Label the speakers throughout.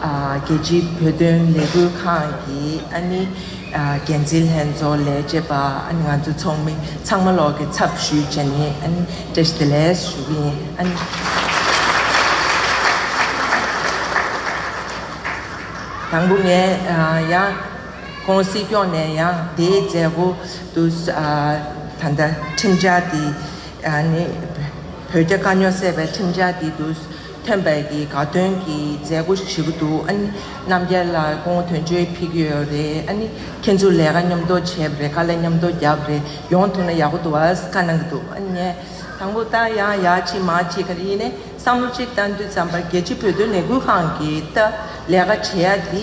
Speaker 1: རྒྱལ་སྤྱིའི་བོད་དོན་ལས་འགུལ་ཁང་གི་འགན་འཛིན་ལྷན་ཚོགས་ལས་བྱེད་པ་ང་ཚོ་ཚོགས་མི་ཚང་མ་ལོགས་ཀྱི་ཚབ་ཞུས་བྱས་ནས་བཀྲ་ཤིས་བདེ་ལེགས་ཞུ་གི་ཡིན། དང་པོ་ངས་ཡང་ཁོང་སྲིད་སྐྱོང་ནས་ཡང་དེའི་མཛད་སྒོ་དུ་ད་ལྟ་ཁྲིམས་འཆར་དེ་བོད་རྒྱ་དཀའ་རྙོག་སེལ་བའི་ཁྲིམས་འཆར་དེ་དུ། ཐོན་པའི་གི་དགའ་སྟོན་གི་མཛད་སྒོ་ཞིག་བྱེད་ཀྱི་འདུག་ཨ་ནི་རྣམ་རྒྱལ་ལ་སྐུ་ངོ་དོན་གཅོད་ཕིག་ཡོད་རེད་ཨ་ནི་ཁྱེད་ཚོ་ལས་ཀ་མཉམ་དུ་བྱས་པ་རེད་དཀའ་ལས་མཉམ་དུ་རྒྱབ་རེད་ཡོང་ཐུབ་ན་ཡག་པོ་འདུག་ཨ་ཀ་གནང་གི་འདུག་ཨ་ནི་དང་པོ་ད་ཡང་ཡག་ཅིག་མ་ཅིག་ག་རེ་ཡིན་ནས་བསམ་བློ་ཅིག་བཏང་དུས་བརྩམས་པ་རྒྱལ་སྤྱི་བོད་དོན་ལས་འགུལ་ཁང་གིས་ལས་ཀ་བྱེད་ཡ་དེ་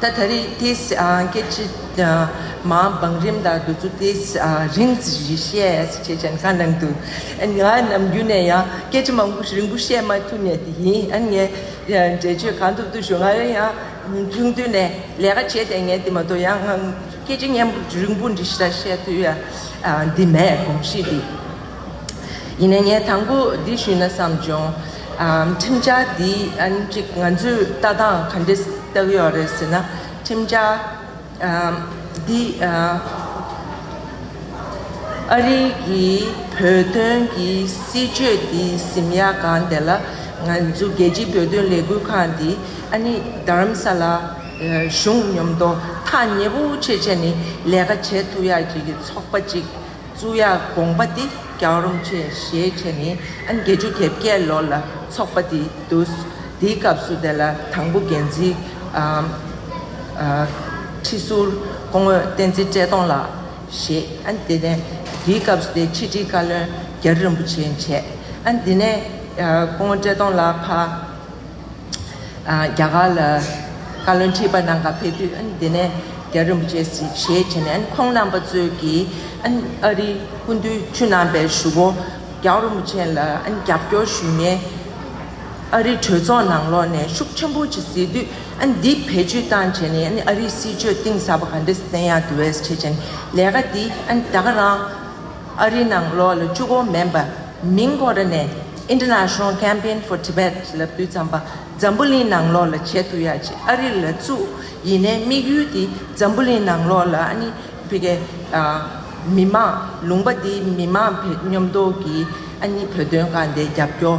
Speaker 1: ད་ད་རེས་ཏི་སྐད་ཅིག་མ་བང་རིམ་དང་འདོད་ཚུལ་ཏི་རིང་བཞི་བཤད་ཅེས་མཆན་ཁ་ནང་དུ་ང་ནམ་རྒྱུན་ནས་ཡང་སྐད་ཅིག་མ་རིང་པོ་བཤད་མ་ཐུབ་ནས་དེ་ཡིན་ཨ་ངས་འགྲེལ་བརྗོད་གང་ཐུབ་ཐུབ་ཞུ་ང་རང་ཡང་ཆུང་དུས་ནས་ལས་ཀ་བྱས་ཏེ་ངས་འདི་མ་གཏོགས་ཡང་སྐད་ཅིག་སྙན་པོ་རིང་པོ་འདི་ལྟར་བཤད་དུས་འདི་མེད་གོམས་གཤིས་འདི་ཡིན་ནས་ངས་དང་པོ་འདི་ཞུས་ན་བསམ་བྱུང། ཁྲིམས་འཆར་འདི་གཅིག་ང་ཚོས་ལྟ་སྟངས་ག་འདྲས་བལྟ་ཡོད་རེད་ཟེར་ན། ཁྲིམས་འཆར་འདི་ཨ་རི་གི་བོད་དོན་གྱི་སྲིད་བྱུས་འདི་ཟིམ་ཡག་གང་དེ་ལ་ང་ཚོ་རྒྱལ་སྤྱིའི་བོད་དོན་ལས་འགུལ་ཁང་འདི་ཨ་ནི་རྡ་རམ་ས་ལ་གཞུང་ཉོབ་མདོ་ཐག་ཉེ་པོ་ཆེ་བྱས་ནས་ལས་ཀ་བྱེད་ཐུབ་ཡག་ཅིག་གི་ཚོགས་པ་ཅིག་གཙུག་ཡག་དགོངས་པ་འདི་རྒྱག་རོམ་ཆེ་ཞེས་བྱས་ནས་ཨན་བརྒྱད་ཅུ་དེབ་བརྒྱད་ལོ་ལ་ཚོགས་པ་དེ་བསྡུས། དེའི་སྐབས་སུ་དེ་ལ་དང་པོ་འགན་འཛིན་ཁྲི་ཟུར་སྐུ་ངོས་བསྟན་འཛིན་བཀྲས་མཐོང་ལགས་བཞེས། ཨན་དེ་ནས་དེའི་སྐབས་སུ་དེ་ཕྱི་དྲིལ་བཀའ་བློན་རྒྱ་རི་རིན་པོ་ཆེས་བྱས། ཨན་དེ་ནས་སྐུ་ངོ་བཀྲས་མཐོང་ལགས་ཕ། རྒྱ་གར་ལ་བཀའ་བློན་ཁྲི་པ་ནང་ཁ་ཕེབས་དུས་དེ་ནས་རྒྱ་རིན་པོ་ཆེས་ཞེས་བྱས་ནས་ཁོང་རྣམ་པ་ཚོས་ཀྱིས་ཨ་རིའི་སྐུ་འདུས་ཆུ་རྣམ་པའི་ཞུ་བོ་རྒྱའུ་རིན་པོ་ཆེ་ལ་རྒྱབ་སྐྱོར་ཞུས་ནས་ཨ་རིའི་གྲོས་ཚོགས་ནང་ལོགས་ནས་ཤུགས་ཆེན་པོ་བྱེད་སྲིད་དུས་འདི་བེད་སྤྱོད་བཏང་བྱས་ནས་ཨ་རིའི་སྲིད་ཇུས་གཏིང་ཟབ་པ་ག་འདྲ་བསྟན་ཡག་གི་འོས་ཆེ་ཆེན་ལས་ཀ་འདི་ད་ག་རང། ཨ་རིའི་ནང་ལོ་ལ་བཅུ་སྒོར་མན་པ་མིང་གོང་ར་ནས International Campaign for Tibet ལབ་དུས་ཙམ་པ་འཛམ་བུ་གླིང་ནང་ལོ་ལ་བྱེད་ཐུ་ཡག་ཅིག་ཨ་རི་ལ་བཙུ་ཡིན་ནའི་དམིགས་ཡུལ་དེ་འཛམ་བུ་གླིང་ནང་ལོ་ལ་ཨ་ནི་བྷི་གའི་མི་མང་ལུང་པ་དེ་མི་མང་བེད་སྙོམ་འདོག་གིས་ཨ་ནི་བོད་དོན་གང་བདེ་རྒྱབ་སྐྱོར།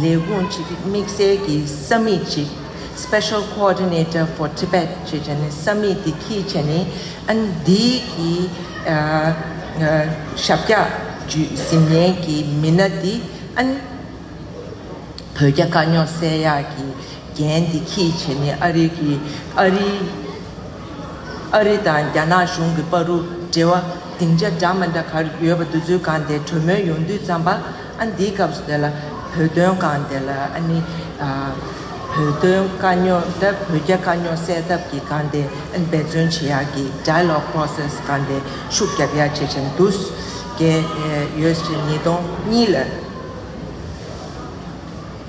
Speaker 1: ལས་ཁུངས་གཅིག་དམིགས་བསལ་གྱི་ས་མིག་གཅིག Special Coordinator for Tibet ཅེས་བྱ་ནི་ས་མིག་དེ་གྱིས་བྱས་ནས་ཨན་དྷི་ཡི་ཞབས་བཀྱག་བརྒྱུད་ཟིན་ཉན་གྱི་མི་སྣ་དེ་ཨན་བོད་རྒྱ་དཀའ་རྙོག་བསལ་ཡག་གི་འགན་དེ་གྱིས་བྱས་ནས་ཨ་རི་གི་ཨ་རི་ཨ་རི་དང་རྒྱ་ནག་གཞུང་གི་པར་རུ་འབྲེལ་བ་སྡིངས་ཆ་འདྲ་མ་འདྲ་གར་ཡོད་པ་འདུ་འཛོལ་སྒང་དེ་གྲོས་མོལ་ཡོང་དུས་བརྩམས་པ། ཨ་འདིའི་སྐབས་སུ་དེ་ལ་བོད་དོན་སྒང་དེ་ལ་ཨ་ནི་བོད་དོན་དཀའ་རྙོག་དེ་བོད་རྒྱ་དཀའ་རྙོག་སེལ་ཐབས་ཀྱི་སྒང་དེ་ཨ་ནི་འབད་བརྩོན་བྱེད་ཡག་གི Dialogue Process སྒང་དེ་ཤུགས་རྒྱབ་ཡག་བྱེད་བཞིན་འདུག་གི་ཡོད་ཅེས་ཉིས་སྟོང་གཉིས་ལ་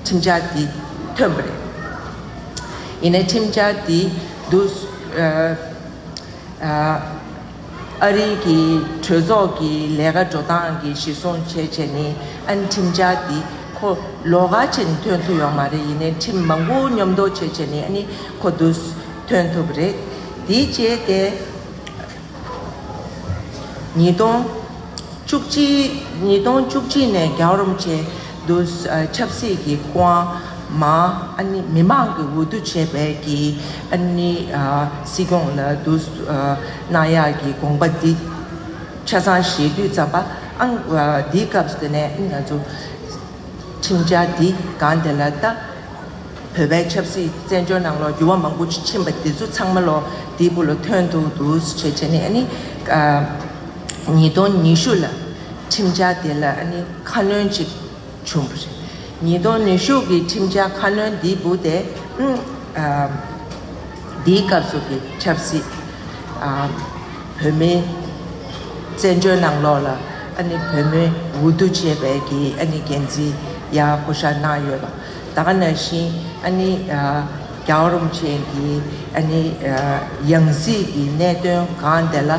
Speaker 1: ཁྲིམས་འཆར་དེ་ཐོན་པ་རེད། ཡིན་ནའི་ཁྲིམས་འཆར་དེ་བསྡུ་ཨ་རིའི་གི་གྲོས་ཚོགས་ཀྱི་ལས་ཀ་འགྲོ་སྟངས་ཀྱི་གཞི་བཟུང་བྱས་བྱས་ནི་ཨན་ཁྲིམས་འཆར་འདི་ཁོ་ལོ་ག་ཅིག་ཐོན་ཐུབ་ཡོང་མ་རེད་ཡིན་ནའི་ཁྲིམས་མང་པོ་ཉོབ་འདོག་བྱས་བྱས་ནི་ཨནི་ཁོ་དུ་ཐོན་ཐུབ་རེད་དེའི་རྗེས་ཏེ། ཉིས་སྟོང་བཅུ་གཅིག་ཉིས་སྟོང་བཅུ་གཅིག་ནས་རྒྱ་རོམ་བྱས། དུ་ཆབ་སྲིད་ཀྱི་དབང། མི་དམངས་ཀྱི་འོས་བསྡུ་བྱས་པའི་ཀྱི་སྲིད་སྐྱོང་ལ་དུ་གནང་ཡག་གི་དགོངས་པ་འདི་ཆ་ཚང་བཞེས་དུས་བརྩམས་པ་ཨང། འདིའི་སྐབས་འདི་ནས་ང་ཚོ་ཁྲིམས་འཆར་འདི་གང་དེ་ལ་ལྟ། བོད་པའི་ཆབ་སྲིད་བཙན་བྱོལ་ནང་ལོ་འགྱུར་བ་མང་པོ་ཕྱིན་པ་འདི་ཚོ་ཚང་མ་ལོ་འདི་པོ་ལ་ཐོན་ཐུབ་དུ་བྱེད་ཆེད་ནི་ཉིས་སྟོང་ཉི་ཤུ་ལ་ཁྲིམས་འཆར་འདི་ལ་ཁ་སྣོན་ཅིག་བྱུང་བ་རེད། ཉིས་སྟོང་ནུས་ཤུགས་ཀྱི་ཁྲིམས་འཆར་ཁ་སྣོན་འདི་བུ་སྟེ། འདིའི་སྐབས་སུ་གྱི་ཆབ་སྲིད། བོད་མིའི་བཙན་བྱོལ་ནང་ལོགས་ལ་ཨ་ནི་བོད་མི་འུ་བསྡུ་བྱེད་པའི་གྱི་ཨ་ནི་འགན་འཛིན་ཡ་ཧུ་ཤ་གནང་ཡོད་པ་དག་ན་བཞིན་ཨ་ནི་རྒྱའོ་རུང་ཆེན་གྱི་ཨ་ནི་ཡང་སྲིད་ཀྱི་གནད་དོན་གང་དེ་ལ་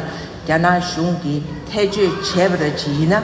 Speaker 1: རྒྱ་ནག་གཞུང་གིས་ཐད་གཅོད་བྱས་པ་ར་ཇི་ཡིན་ན།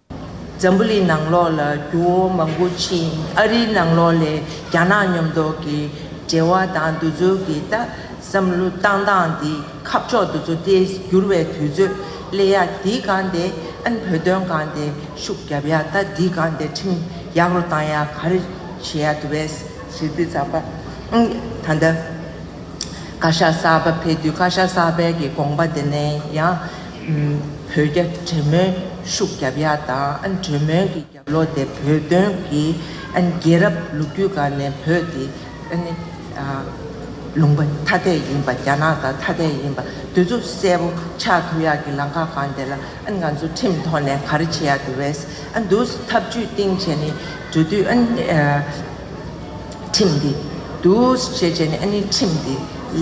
Speaker 1: འཛམ་བུ་ལིའི་ནང་ལོགས་ལ་རྒྱུ་བོ་མང་པོ་མཆིས། ཨ་རིའི་ནང་ལོགས་ལས་རྒྱ་ནག་ཉམས་རྟོགས་ཀྱི་འབྲེལ་བ་དང་འདུ་འཛོལ་གྱི་ལྟ་བསམ་བློ་བཏང་སྟངས་འདི་ཁ་ཕྱོགས་འདུ་འཛོ་ཏེ་འགྱུར་བའི་དུས་ཚོད་གླེ་ཡག་འདི་གང་དེ་ཨན་བོད་དོན་གང་དེ་ཤུགས་རྒྱབ་ཡག་ལྟ་འདི་གང་དེ་ཁྲིམས་ཡག་རོ་བཏང་ཡག་ག་རེ་བྱེད་ཡག་དུ་བས། ཞེས་འདི་ཚགས་པར་ཨང་ད་ལྟ་བཀའ་ཤག་གསར་པ་ཕེབས་དུས་བཀའ་ཤག་གསར་པའི་གི་དགོངས་པ་དེ་ནས་ཡང། བོད་རྒྱ་འབྲེལ་མོལ་ཤུགས་རྒྱབ་ཡ་དང་གྲོས་མོལ་གྱི་རྒྱབ་ལོག་དེ་བོད་དོན་གྱི་རྒྱལ་རབས་ལོ་རྒྱུས་སྒར་ནས་བོད་དེ་ལུང་པ་ཐ་དད་ཡིན་པ་རྒྱ་ནག་དང་ཐ་དད་ཡིན་པ་འདུས་ཚུབ་གསལ་པོ་ཆགས་ཐུབ་ཡག་གི་ལང་ཁ་གང་དེ་ལ་ང་ཚོ་ཁྲིམས་ཐོག་ནས་ག་རེ་བྱེད་ཡག་གི་རེད་འདུག་ཐབས་ཇུས་སྟེང་བྱས་ནས་འགྲོ་དུས་ཁྲིམས་འདི་འདུག་བྱས་བྱས་ནས་ཁྲིམས་འདི་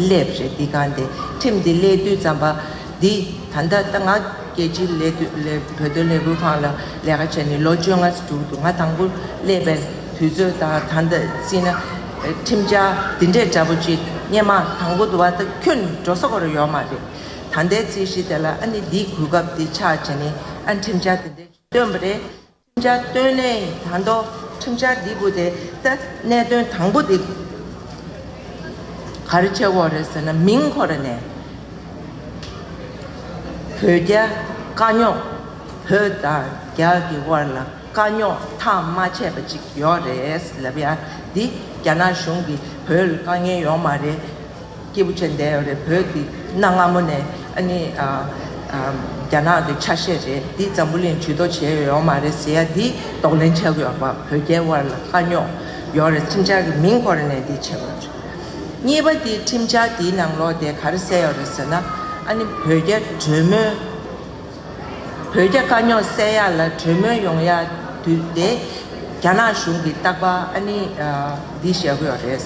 Speaker 1: སླེབས་རེད་འདི་གང་དེ་ཁྲིམས་འདི་སླེབས་དུས་ཙམ་པ། འདི་ད་ལྟ་ད་ང་རྒྱལ་སྤྱིའི་ལས་དོན་ལས་བོད་དོན་ལས་འགུལ་ཁང་ལ་ལས་ཀ་བྱས་ནས་ལོ་བཅོ་ལྔ་ཟིག་འགྲུག་འདུག་ང་དང་པོ་སླེབས་པའི་དུས་ཚོད་དང་ད་ལྟ་བརྩིས་ན། ཁྲིམས་འཆར་འདི་འདྲས་འདྲ་པོ་ཅིག་རྙེད་མ་དང་པོ་དུ་བ་ད་ཁྱོད་འགྲོ་ས་གོ་རེ་ཡོད་མ་རེད། ད་ལྟའི་རྩིས་གཞི་དེ་ལ་ཨ་ནི་འདིའི་གོ་སྐབས་འདི་ཆགས་རྗེས་ནས་ཨ་ཁྲིམས་འཆར་འདི་འདྲས་བཏོན་པ་རེད། བཅའ་སྟོན་ལས་ད་མདོ་ཁྲིམས་འཆར་འདི་བུ་དེ་སྟེ་གནད་དོན་དང་པོ་འདི་ག་རེ་ཆེ་བོ་རེད་ཟེར་ན་མིང་ཁོ་ར་ནས་བོད་རྒྱ་དཀའ་རྙོག་བོད་དང་རྒྱ་གི་དབར་ལ་དཀའ་རྙོག་ཐག་མ་ཆད་པ་ཅིག་ཡོད་རེད་ལབ་ཡ་འདི་རྒྱ་ནག་གཞུང་གི་བོད་ལ་དཀའ་ངལ་ཡོང་མ་རེད་སྐྱེས་བུ་ཅན་འདས་རེད་བོད་ཀྱི་གནའ་སྔ་མོ་ནས་ཨ་ནི་རྒྱ་ནག་གི་ཆ་ཤས་རེད་འདི་འཛམ་བུ་གླིང་ཇུས་གཏོགས་བྱས་ཡོད་ཡོག་མ་རེད་ཟེར་ཡ་འདི་གདོག་ལེན་བྱས་ཡོག་པ་བོད་རྒྱའི་དབར་ལ་དཀའ་རྙོག་ཡོག་རེད་ཁྲིམས་འཆར་གྱི་མིང་འཁོར་ནས་འདི་བྱས་ཡོག་རེད། གཉིས་པ་འདི་ཁྲིམས་འཆར་འདིའི་ནང་ལོག་དེ་ག་རེ་གསལ་ཡོག་རེད་ཟེར་ན་ཨ་ནི་བོད་རྒྱ་གྲོས་མོལ་བོད་རྒྱ་དཀའ་རྙོག་བསལ་ཡག་ལ་གྲོས་མོལ་ཡོང་ཡག་དུས་དེ་རྒྱ་ནག་གཞུང་གི་རྟག་པ་ཨ་ནི་འདི་བྱས་ཡོག་རེད།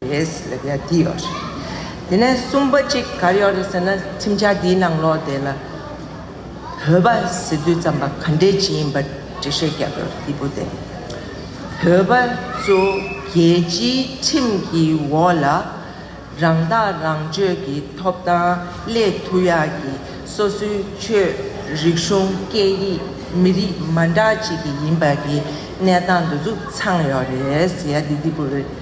Speaker 1: རེད། ལབ་ཡ་འདི་ཡོད་རེད། དེ་ནས་གསུམ་པ་གཅིག་གར་ཡོད་རེད་ཟེར་ན་ཁྲིམས་འཆར་འདིའི་ནང་ལོགས་དེ་ལ་བོད་པ་ཟེར་དུས་རྩམ་པ་ག་འདྲའི་ཇི་ཡིན་པ་འགྲེལ་བཤད་རྒྱབ་ཡོད་རེད་འདི་བུ་དེ་བོད་པ་ཚོ་རྒྱལ་སྤྱིའི་ཁྲིམས་ཀྱི་འོག་ལ་རང་ཐག་རང་གཅོད་ཀྱི་ཐོབ་ཐང་སླད་ཐུ་ཡག་གི་སོ་སོའི་ཆོས་རིག་གཞུང་སྐད་ཡིག་མི་རིགས་མ་འདྲ་གཅིག་གི་ཡིན་པ་གི་གནས་སྟངས་འདི་ཚུགས་ཚང་ཡོད་རེད་ཟེར་ཡ་འདི་འདི་བུ་རེད།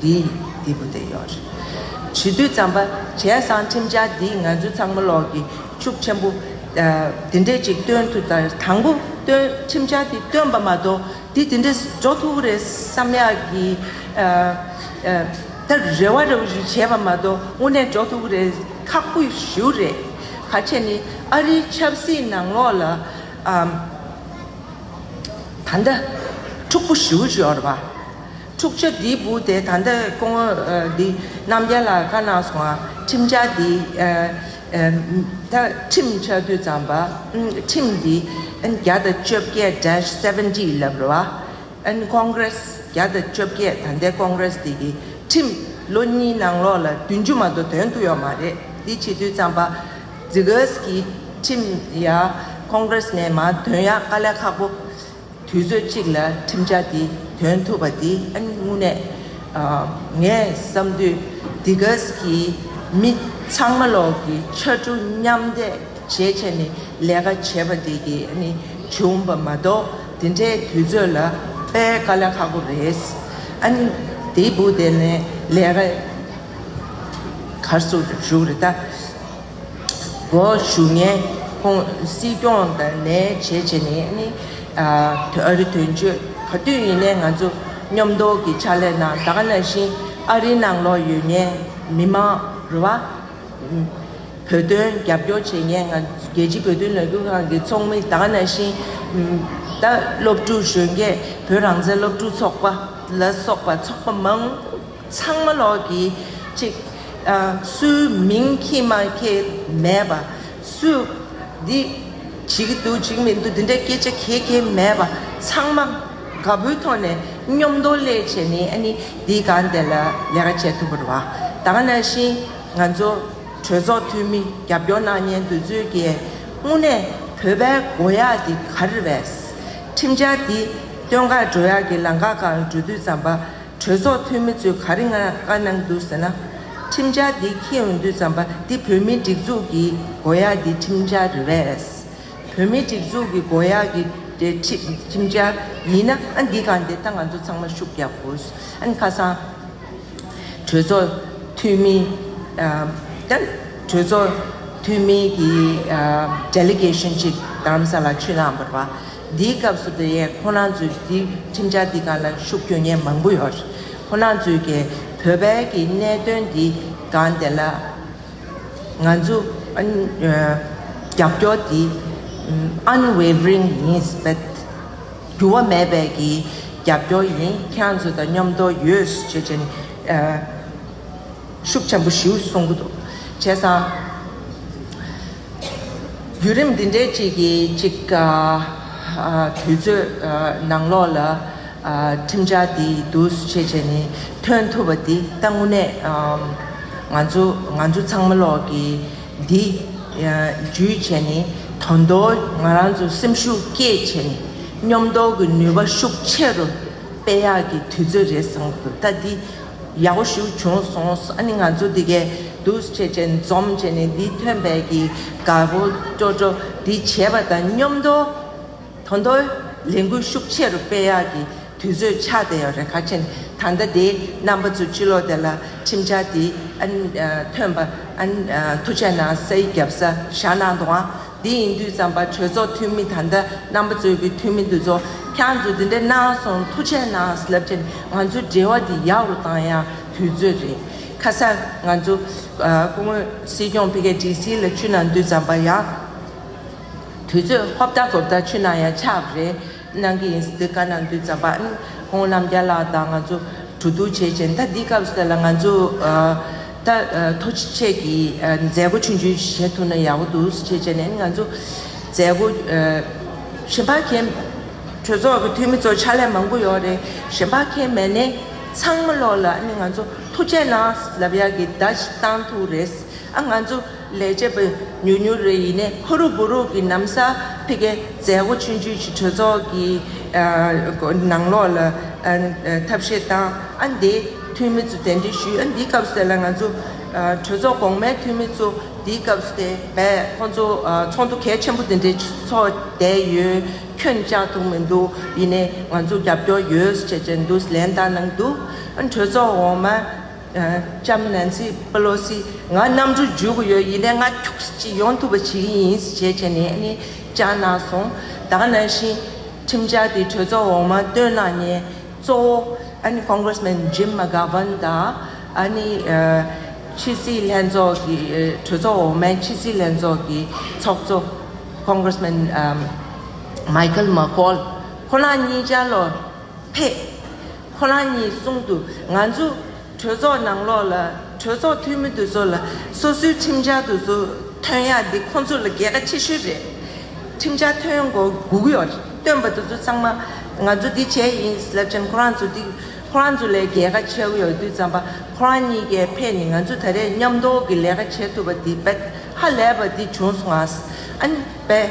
Speaker 1: འདི་འདི་བུ་དེ་ཡོད་རེད། བྱིས་དུས་རྩམ་པ་བྱས་སང་ཁྲིམས་འཆར་འདིས་ང་ཚོའི་ཚང་མ་ལོག་གི་ཤུགས་ཆེན་པོ་འདི་འདྲས་ཅིག་སྟོན་ཐུབ་ད་རེད་དང་པོ་སྟོན་ཁྲིམས་འཆར་འདི་སྟོན་པ་མ་གཏོགས་འདི་འདི་འདྲས་འགྲོ་ཐུབ་རེད་བསམ་ཡག་གི་ད་རེ་བ་རེ་བ་ཞིག་བྱས་པ་མ་གཏོགས་དངོས་གནས་འགྲོ་ཐུབ་རེད་ཁག་པོ་ཞུ་རེད་ག་ཁྱེད་ནི་ཨ་རིའི་ཆབ་སྲིད་ནང་ལོག་ལ་ད་ལྟ་འཁྲུག་པོ་ཞུ་ཞོར་བ། འཁྲུག་ཆ་འདི་བུ་དེ་ད་ལྟ་ཀོང་བོ་འདི་རྣམ་རྒྱལ་ལ་བཀའ་གནང་སོང་ཨ་ཁྲིམས་འཆར་འདི་ད་ཁྲིམས་འཆར་དུས་བརྩམས་པ་ཁྲིམས་འདི་བརྒྱ་དང་བཅོ་བརྒྱད dash seventy ལབ་རེ་བ Congress བརྒྱ་དང་བཅོ་བརྒྱད་ད་ལྟའི་ཀོང་རེས་འདི་གི་ཁྲིམས་ལོ་གཉིས་ནང་ལོག་ལ་བདུན་ཅུ་མ་གཏོགས་དོན་ཐུག་ཡོག་མ་རེད་འདི་བྱེད་དུས་བརྩམས་པ Zegas གི་ཁྲིམས་ཡ Congress མན་མ་དོན་ཡག་དཀའ་ལས་ཁག་པོ་དུས་ཚོད་གཅིག་ལ་ཁྲིམས་འཆར་འདི་འདོན་ཐུབ་པ་འདི་དངོས་གནས་ངས་བསམ་དུས་སྡི་གཟ་གི་མི་ཚང་མ་ལོག་གི་ཕྱར་གྲུ་མཉམ་འདེགས་བྱེད་ཆེད་ནས་ལས་ཀ་བྱེད་པ་འདི་གི་བྱུང་པ་མ་གཏོགས་འདི་འདྲའི་དུས་ཚོད་ལ་པའི་དཀའ་ལས་ཁག་པོ་རེད། འདི་བུ་དེ་ནས་ལས་ཀ་གར་སོ་ཞུགས་རེད་ད། དགོངས་ཞུ་ནན་ཁུང་སྲིད་སྐྱོང་དང་ནས་བྱེད་བྱེད་ནས་ནི་ཨ་རི་དོན་གཅོད་ག་དུས་ཡིན་ནའི་ང་ཚོ་སྙོམས་འདོགས་ཀྱི་ཕྱག་ལས་ན་ད་ག་ནང་བཞིན་ཨ་རི་ནང་ལོག་ཡོད་ནའི་མི་མང་རུ་བ་བོད་དོན་རྒྱབ་སྐྱོར་བྱེད་ནའི་ང་རྒྱལ་སྤྱི་བོད་དོན་ལས་འགུལ་ཁང་གི་ཚོགས་མི་ད་ག་ནང་བཞིན་ད་སློབ་ཕྲུག་གཞོན་སྐྱེས་བོད་རང་བཙན་སློབ་ཕྲུག་ཚོགས་པ་ལ་སོགས་པ་ཚོགས་པ་མང་ཚང་མ་ལོག་གི་ཅིག། སུའི་མིང་ཁྱི་མ་ཁྱི་མེད་པ། སུས་འདི་བྱེད་ཀྱི་འདུག་བྱེད་ཀྱི་མི་འདུག་འདི་འདྲའི་སྐད་ཆ་གྱེས་གྱེས་མེད་པ། ཚང་མ་དགའ་པོའི་ཐོག་ནས་སྙོམས་མདོག་ཀླད་བྱས་ནས་ཨ་ནི་འདིའི་སྒང་དེ་ལ་ལས་ཀ་བྱེད་ཐུབ་པར་བ་དང་ན་བཞིན་ང་ཚོ་གྲོས་ཚོགས་འཐུས་མི་རྒྱབ་སྐྱོར་གནང་ཉེན་འདུག་ཚུལ་གྱིས་དངོས་གནས་བོད་པའི་མགོ་ཡག་འདི་ག་རེ་རེད། ཁྲིམས་འཆར་འདི་སྟོན་ཁར་འགྲོ་ཡག་གི་ལང་ཀ་གང་འགྲོ་དུས་ཙམ་པ་གྲོས་ཚོགས་འཐུས་མི་ཚོས་ག་རེ་ང་དགའ་གནང་འདུག་ཟེར་ན། ཁྲིམས་འཆར་འདི་ཁྱེད་འོས་འདུས་བརྩམས་པ་འདི་བོད་མིའི་སྒྲིག་འཛུགས་ཀྱི་མགོ་ཡག་གི་ཁྲིམས་འཆར་རེད་བས། བོད་མིའི་སྒྲིག་འཛུགས་ཀྱི་མགོ་ཡག་གི་ཁྲིམས་འཆར་ཡིན་ན་ཨ་འདི་གང་དེ་ད་ང་ཚོ་ཚང་མ་ཤུགས་རྒྱག་དགོས། ཨ་ཁ་སང་གྲོས་ཚོགས་འཐུས་མི་གྲོས་ཚོགས་འཐུས་མི་གི Delegation ཅིག་རྡ་རམ་ས་ལ་ཆུ་ནང་འབར་བ། འདིའི་སྐབས་སུ་དེ་ཡན་ཁོ་ན་ཚོའི་འདི་ཁྲིམས་འཆར་འདི་ག་ལ་ཤུགས་རྒྱོ་ཉེན་མང་པོ་ཡོད་རེད་ཁོ་ན་ཚོའི་གས་བོད་བལ་གྱི་གནད་དོན་འདི་ག་འདི་ལ་ང་ཚོ་རྒྱབ་སྐྱོ་འདི Unwavering ཡིན་བེད་འགྱུར་བ་མེད་བེད་ཀྱི་རྒྱབ་སྐྱོ་ཡིན་ཁྱང་ཚོ་དང་མཉོམ་དོ་ཡོད་ཞེས་ཅན་ཤུགས་ཆེན་པོ་ཞུ་གསུང་གི་འདུག་བྱས་ཙང། བརྒྱུད་རིམ་འདི་འདྲའི་གཅིག་གིས་གཅིག་དུས་ཚོད་ནང་ལོགས་ལ་ཁྲིམས་འཆར་འདི་འདུས་བྱས་བྱས་ནས་ཐོན་ཐུབ་པ་འདི་ད་དངོས་གནས་ང་ཚོ་ང་ཚོ་ཚང་མ་ལོགས་ཀྱི་འདི་འཇུས་བྱས་ནས་དོན་དུ་ང་རང་ཚོ་སེམས་ཤུགས་བསྐྱེད་བྱས་ནས་སྙོམས་འདོགས་ཀྱི་ནུས་པ་ཤུགས་ཆེ་རུ་སྤེལ་ཡག་གི་དུས་ཚོད་རེད་བསམ་གི་འདུག་ད་འདི་ཡག་པོ་ཞུ་བྱུང་སོང་ཨ་ནི་ང་ཚོ་འདི་གའི་འདུག་བྱེད་ཅན་འཛོམས་བྱས་ནས་འདི་ཐོན་དཔལ་གྱི་དགའ་བོ་སྤྲོ་སྤྲོ་འདི་བྱས་པ་དང་སྙོམས་མདོ་དོ་མདོ་ལས་འགུལ་ཤུགས་ཆེ་རུ་སྤེལ་ཡག་གི་དུས་ཚོད་ཆགས་བསྡད་ཡོད་རེད་ཁ་ཆེ་ད་ལྟ་དེ་རྣམ་པ་ཚོ་ཕྱི་ལོག་དེ་ལ་ཁྲིམས་འཆར་དེ་ཨ་ནི་ཐོན་པ་ཨ་ནི་ཐུགས་ཆེ་གནང་སའི་རྒྱབ་ས་བཞག་གནང་དང་འདི་ཡིན་དུས་བསམ་པ་གྲོས་ཚོགས་འཐུས་མི་ད་ལྟ་རྣམ་པ་གཙོས་ཀྱི་འཐུས་མི་འདི་ཚོ་ཁྱང་ཚོས་འདི་འདྲ་གནང་སོང་ཐུགས་ཆེ་གནང་སླབ་ཆེན་ང་ཚོའི་འབྲེལ་བ་འདི་ཡག་རུ་གཏང་ཡག་དུས་ཚོད་རེད་ཁ་སང་ང་ཚོ་སྐུ་ངོས་སྲིད་སྐྱོང་ཕི་ཀའི་སྒྲིག་སྲིད་ལ་ཆུ་ནང་འདུས་བསམ་པ་ཡག་དུས་ཚོད་ཧོབ་ལྟ་གོབ་ལྟ་ཆུ་ནང་ཡང་ཆགས་པ་རེད། གནང་གི་ཡིན་སྲིད་དཀའ་ན་འདུས་རྩམ་པ་ཨན་ཧོང་ལམ་རྒྱ་ལགས་དང་ང་ཚོ་གྲོས་བསྡུར་བྱས་རྗེས་ད་འདི་སྐབས་སུ་ལ་ང་ཚོ་ད་ཐོ་ཆེད་ཀྱི་མཛད་སྒོ་ཆུང་ཆུང་ཞིག་བྱེད་ཐུབ་ན་ཡག་པོ་འདུག་ཞེས་བྱས་ནས་ང་ཚོ་མཛད་སྒོ། ཞིན་ཕ་ཁེན་གྲོས་ཚོགས་ཀྱི་འཐུས་མི་ཚོ་ཕྱག་ལས་མང་པོ་ཡོད་རེད་ཞིན་ཕ་ཁེན་མེད་ནས་ཚང་མ་ལོག་ལ་ཨ་ནི་ང་ཚོ་ཐུགས་རྗེ་གནང་ལབ་ཡག་གི་ད་ཅི་བཏང་ཐུག་རེད་ཨ་ང་ཚོ། ལས་བྱེད་པ་ཉུག་ཉུག་རེ་ཡིན་ནས་ཧུ་རུག་བུ་རུག་གི་གནམ་ས་ཕེ་ཁའི་མཛད་སྒོ་ཆོས་བརྒྱུད་ཀྱི་གྲོས་ཚོགས་ཀྱི་ནང་ལོགས་ལ་ཐབས་ཤེས་བཏང་ཨ་འདི་འཐུས་མི་ཚོ་དེ་འདྲས་ཞུས་ཨ་འདིའི་སྐབས་སུ་དེ་ལ་ང་ཚོ་གྲོས་ཚོགས་གོང་མའི་འཐུས་མི་ཚོ་འདིའི་སྐབས་སུ་དེ་བས་ཁོང་ཚོ་ཚོགས་འདུ་གལ་ཆེན་པོ་དེ་འདྲས་ཚོགས་བསྡད་ཡོད་ཁྱོད་བཅག་ཐུག་མི་འདུག་ཡིན་ནས་ང་ཚོ་རྒྱབ་སྐྱོར་ཡོད་ཟེར་བྱས་བྱས་འདུག་ལན་བཏང་གནང་འདུག་གྲོས་ཚོགས་འོག་མ། ལྕམ་ནན་སི་པི་ལོ་སི། ང་གནམ་གྲུ་རྒྱུག་གི་ཡོད་ཡིན་ནའི་ང་ཁྱུགས་ཅིག་ཡོང་ཐུབ་པ་བྱེད་ཀྱི་ཡིན་ཟེར་བྱས་བྱས་ནས་ནི་བཅར་གནང་སོང། ད་ནང་བཞིན་ཁྲིམས་འཆར་དེ་གྲོས་ཚོགས་འོག་མ་བཏོན་གནང་ནས་གཙོ་བོ་ཨ་ནི Congressman Jim McGovern དང་ཨ་ནི་ཕྱི་སྲིད་ལྷན་ཚོགས་ཀྱི་གྲོས་ཚོགས་འོག་མའི་ཕྱི་སྲིད་ལྷན་ཚོགས་ཀྱི་ཚོགས་གཙོ Congressman Michael McCaul ཁོ་རང་གཉིས་བཅར་ལོ་ཕེབས། ཁོ་རང་གཉིས་གསུང་དུ་ང་ཚོ་གྲོས་ཚོགས་ནང་ལོགས་ལ་གྲོས་ཚོགས་འཐུས་མི་དེ་ཚོ་ལ་སོ་སོའི་ཁྲིམས་འཆར་དེ་ཚོ་ཐོན་ཡ་འདི་ཁོ་ཚོ་ལ་གལ་ཁ་ཆེ་ཤོས་རེད། ཁྲིམས་འཆར་ཐོན་མགོ་སྒུག་ཡོད་བཏོན་པ་དེ་ཚོ་ཚང་མ་ང་ཚོ་འདི་བྱས་ཡིན་སླབ་ཅན་ཁོ་རང་ཚོ་འདི་ཁོ་རང་ཚོ་ལས་གལ་ཁ་ཆེ་གི་ཡོད་དུས་ཙམ་པ་ཁོ་རང་གཉིས་ཀས་ཕེབས་ནས་ང་ཚོ་ད་རེས་མཉམ་འདོགས་ཀྱི་ལས་ཀ་བྱེད་ཐུབ་པ་འདི་བེད་ཧ་ལས་པ་འདི་བྱུང་སོང་ཨ་ནི་བེད།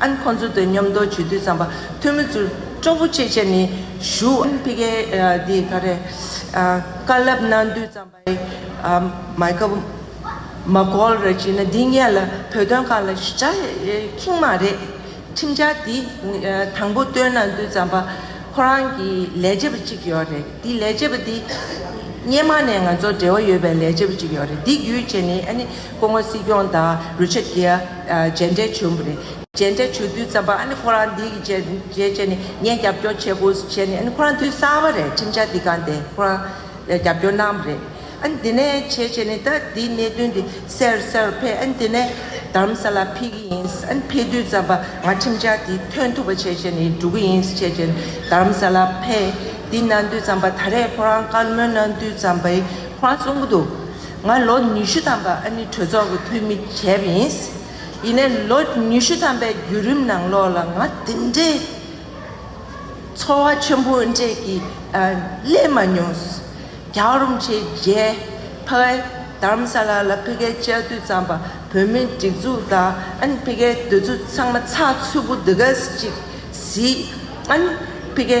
Speaker 1: ཨན་ཁོང་ཚོ་དོན་མཉམ་འདོགས་བྱེད་དུས་ཙམ་པ་ཐོན་མི་ཚུར་ཅོག་པུ་ཆེ་ཆེ་ནས་བཞུ། ཨན་ཕི་ཀའི་དེ་ག་རེད་དཀའ་ལབ་གནང་དུས་ཙམ་པའི་མཱི་ཀ་མཱ་ཀོལ་རེད་ཅེ་ན་དེ་ངས་ལ་བོད་དོན་ཁག་ལ་ཞི་ཆ་ཁིང་མ་རེད་ཁྲིམས་འཆར་དེ་དང་པོ་བཏོན་གནང་དུས་ཙམ་པ་ཁོ་རང་གི་ལས་བྱེད་པ་གཅིག་ཡོད་རེད་དེ་ལས་བྱེད་པ་དེ་སྙེ་མ་ནས་ང་ཚོ་འབྲེལ་བ་ཡོད་པའི་ལས་བྱེད་པ་གཅིག་ཡོད་རེད་དེ་བརྒྱུད་བྱས་ནས་ཨ་ནི། སྐུ་ངོ་སྲིད་སྐྱོང་དང་རུ་ཆ་རྒྱལ། མཇལ་འཕྲད་བྱུང་བ་རེད། མཇལ་འཕྲད་བྱུང་དུས་ཙམ་པ་ཨ་ནི་ཁོ་རང་འདི་གི་རྗེས་རྗེས་བྱས་ནས་ངས་རྒྱབ་སྐྱོར་བྱེད་དགོས་ཟེར་བྱས་ནས་ཨ་ནི་ཁོ་རང་དུས་གསར་པ་རེད་ཁྲིམས་འཆར་འདི་གང་དེ་ཁོ་རང་རྒྱབ་སྐྱོར་གནང་བ་རེད། ཨ་ནི་དེ་ནས་བྱས་བྱས་ནས་ད་དེའི་གནད་དོན་དེ་སེར་སེར་ཕེབས་ཨ་ནི་དེ་ནས་དརམ་ས་ལ་ཕེབས་ཀྱི་ཡིན་ཨ་ནི་ཕེབས་དུས་ཙམ་པ་ང་ཁྲིམས་འཆར་དེ་ཐོན་ཐུབ་པ་བྱས་བྱས་ནས་འགྲོ་གི་ཡིན་བྱས་བྱས་ནས་དརམ་ས་ལ་ཕེབས་དེ་གནང་དུས་ཙམ་པ་ད་རེས་ཁོ་རང་བཀའ་མོལ་གནང་དུས་ཙམ་པས་ཁོ་རང་གསུང་གི་འདུག། ང་ལོ་ཉི་ཤུ་ཐམ་པ་ཨ་ནི་གྲོས་ཚོགས་ཀྱི་འཐུས་མི་བྱས་པ་ཡིན། ཡིན་ནས་ལོ་ཉི་ཤུ་ཐམ་པའི་བརྒྱུད་རིམ་ནང་ལོགས་ལ་ང་དེ་འདྲའི་ཚོར་བ་ཆེན་པོ་འདྲས་ཀྱི་སླེབས་མ་མྱོང། རྒྱ་རོམ་ཆེ་རྗེས་ཕ་གའི་དརམ་ས་ལ་ལ་ཕི་གའི་བཅའ་དུས་བརྩམས་པ་བོད་མིའི་སྒྲིག་འཛུགས་དང་ཨ་ནི་ཕི་གའི་འདོད་ཚུལ་ཚང་མ་ཚགས་ཚུད་པོ་འདི་ག་ཟིག་ཨ་ནི་ཕི་གའི།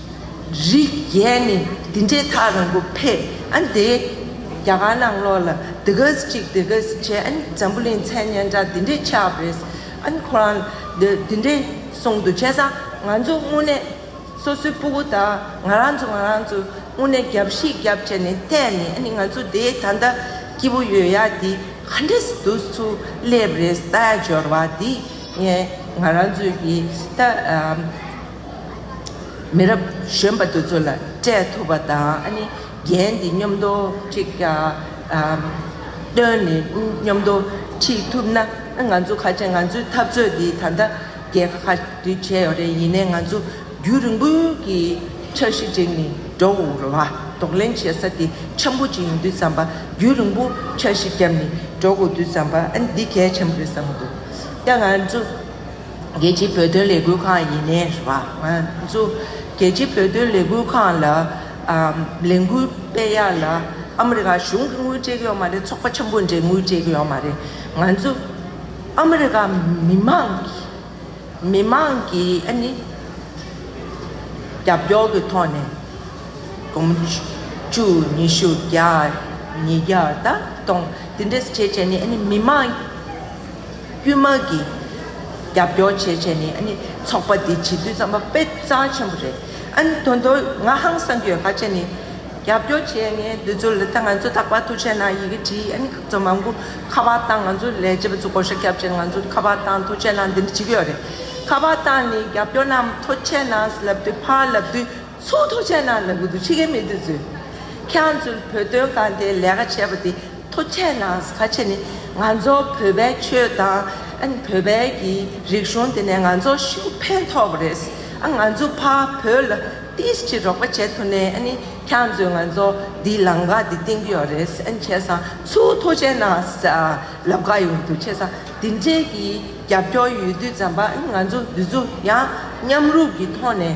Speaker 1: རིགས་ཡས་ནི་འདི་འདྲའི་ཐག་རིང་པོ་ཕེབས་ཨ་འདི། རྒྱ་གར་ནང་ལོགས་ལ་འདི་ག་ཟེ་གཅིག་འདི་ག་ཟེ་བྱས་ཨ་ནི་འཛམ་བུ་གླིང་མཚན་སྙན་གྲགས་འདི་འདྲའི་ཆགས་བོད་ཨ་ནི་ཁོ་རང་འདི་འདི་འདྲའི་གསུང་འདུག་བྱས་ཙང་ང་ཚོ་དངོས་གནས་སོ་སོའི་སྤུ་གུ་དག་ང་རང་ཚོ་ང་རང་ཚོ་དངོས་གནས་རྒྱབ་གཤིས་རྒྱབ་བྱས་ནས་བལྟས་ནས་ཨ་ནི་ང་ཚོ་འདི་ད་ལྟ་སྐྱིད་པོ་ཡོད་ཡ་འདི་ག་འདྲ་ཟེ་འདུག་ཚུར་སླེབས་རེས་ད་ཡ་འབྱོར་བ་འདི་ངས་ང་རང་ཚོའི་ཡི་ད། མི་རབས་གཞོན་པ་དེ་ཚོ་ལ་སྤྲད་ཐུབ་པ་དང་རྒྱན་དེ་སྙོམས་དོ་ཁྲིད་བཏོན་ནས་སྙོམས་དོ་ཁྲིད་ཐུབ་ན་ང་ཚོ་ཁ་ཆེ་ང་ཚོའི་འཐབ་རྩོད་དེ་ད་ལྟ་རྒྱལ་ཁ་བསྡུས་བྱས་ཡོད་རེད་ཡིན་ནའི་ང་ཚོ་རྒྱུན་རིང་པོའི་གི་འཆར་གཞི་བསྒྲིགས་ནས་འགྲོ་འོང་རོ་བ་ལྡོག་ལེན་བྱེད་ས་དེ་ཆེན་པོ་གཅིག་ཡིན་དུས་བསམ་པ་རྒྱུན་རིང་པོ་འཆར་གཞི་བརྒྱབ་ནས་འགྲོ་དགོས་དུས་བསམ་པ་འདི་གལ་ཆེན་པོ་རེད་བསམ་གྱི་འདུག་ད་ང་ཚོ། རྒྱལ་སྤྱིའི་བོད་དོན་ལས་འགུལ་ཁང་ཡིན་ནའི་རེད་བ། ང་ཚོ་རྒྱལ་སྤྱིའི་བོད་དོན་ལས་འགུལ་ཁང་ལ་ལས་འགུལ་སྤེལ་ཡག་ལ་ཨ་མི་རི་ཀ་གཞུང་གི་དངུལ་སྤྲད་གི་ཡོད་མ་རེད་ཚོགས་པ་ཆེན་པོ་འདྲའི་དངུལ་སྤྲད་གི་ཡོད་མ་རེད་ང་ཚོ་ཨ་མི་རི་ཀ་མི་དམངས་ཀྱི་མི་དམངས་ཀྱི་ཨ་ནི་རྒྱབ་སྐྱོར་གི་ཐོག་ནས་དགོང་བཅུ་ཉི་ཤུ་བརྒྱ་ཉིས་བརྒྱ་ད་སྟོང་འདི་འདྲའི་བྱས་བྱས་ནས་ཨ་ནི་མི་དམངས། དཀྱུས་མ་གི་རྒྱབ་སྐྱོར་བྱས་བྱས་ནས་ཨ་ནི་ཚོགས་པ་འདི་བྱེད་དུས་རྩམ་པ་དཔེ་རྩ་ཆེན་པོ་རེད་ཨ་ནི་དོན་དུ་ང་ཧང་སང་གི་ཧ་ཅེ་ནི་རྒྱབ་སྐྱོར་བྱས་ངའི་འདི་ཚོ་ལི་ཐ་ང་ཚོ་དག་པ་ཐུག་ཆེ་ན་ཡི་གེ་བྲིས་ཨ་ནི་ཁག་ཚོ་མང་པོ་ཁ་པར་བཏང་ང་ཚོ་ལས་བྱེད་པ་ཚོ་གོ་ཤ་ཁྱབ་ཆེ་ན་ང་ཚོ་ཁ་པར་བཏང་ཐུག་ཆེ་ན་འདི་འདྲ་བྱེད་ཀྱི་ཡོད་རེད་ཁ་པར་བཏང་ནས་རྒྱབ་སྐྱོར་རྣམས་ཐོ་ཆེ་ན་ལབ་དུས་ཕར་ལབ་དུས། ཚོགས་ཐོག་ཆེན་ནང་ལ་གུ་དུ་ཆི་ཁའི་མི་དེ་ཚོས། ཁྱང་ཚོས་བོད་དོན་གང་ལྟའི་ལས་ཀ་བྱས་པ་དེ་ཐོག་ཆེན་ནང་ཟ་ཆེ་ནི་ང་ཚོ་བོད་པའི་ཆོས་དང། བོད་པའི་གི་རིག་གཞུང་དེ་ནས་ང་ཚོ་ཤིན་ཕན་ཐོག་པ་རེད། ང་ཚོ་ཕ་བོད་ལ་ཏིས་ཅི་རོགས་པ་བྱེད་ཐུ་ནས་ནི་ཁྱང་ཚོས་ང་ཚོ་དེའི་ལམ་ཀ་དེ་བསྟན་གི་ཡོག་རེད། བྱས་ཙང་ཚོགས་ཐོག་ཆེན་ནང་ཟ་ལབ་ག་ཡོང་གི་འདུག་བྱས་ཙང་དེ་འདྲའི་གི་རྒྱབ་སྐྱོར་ཡོད་དུས་ཙམ་པ་ང་ཚོ་འདི་ཚོ་ཡང་མཉམ་རུབ་གི་ཐོག་ནས།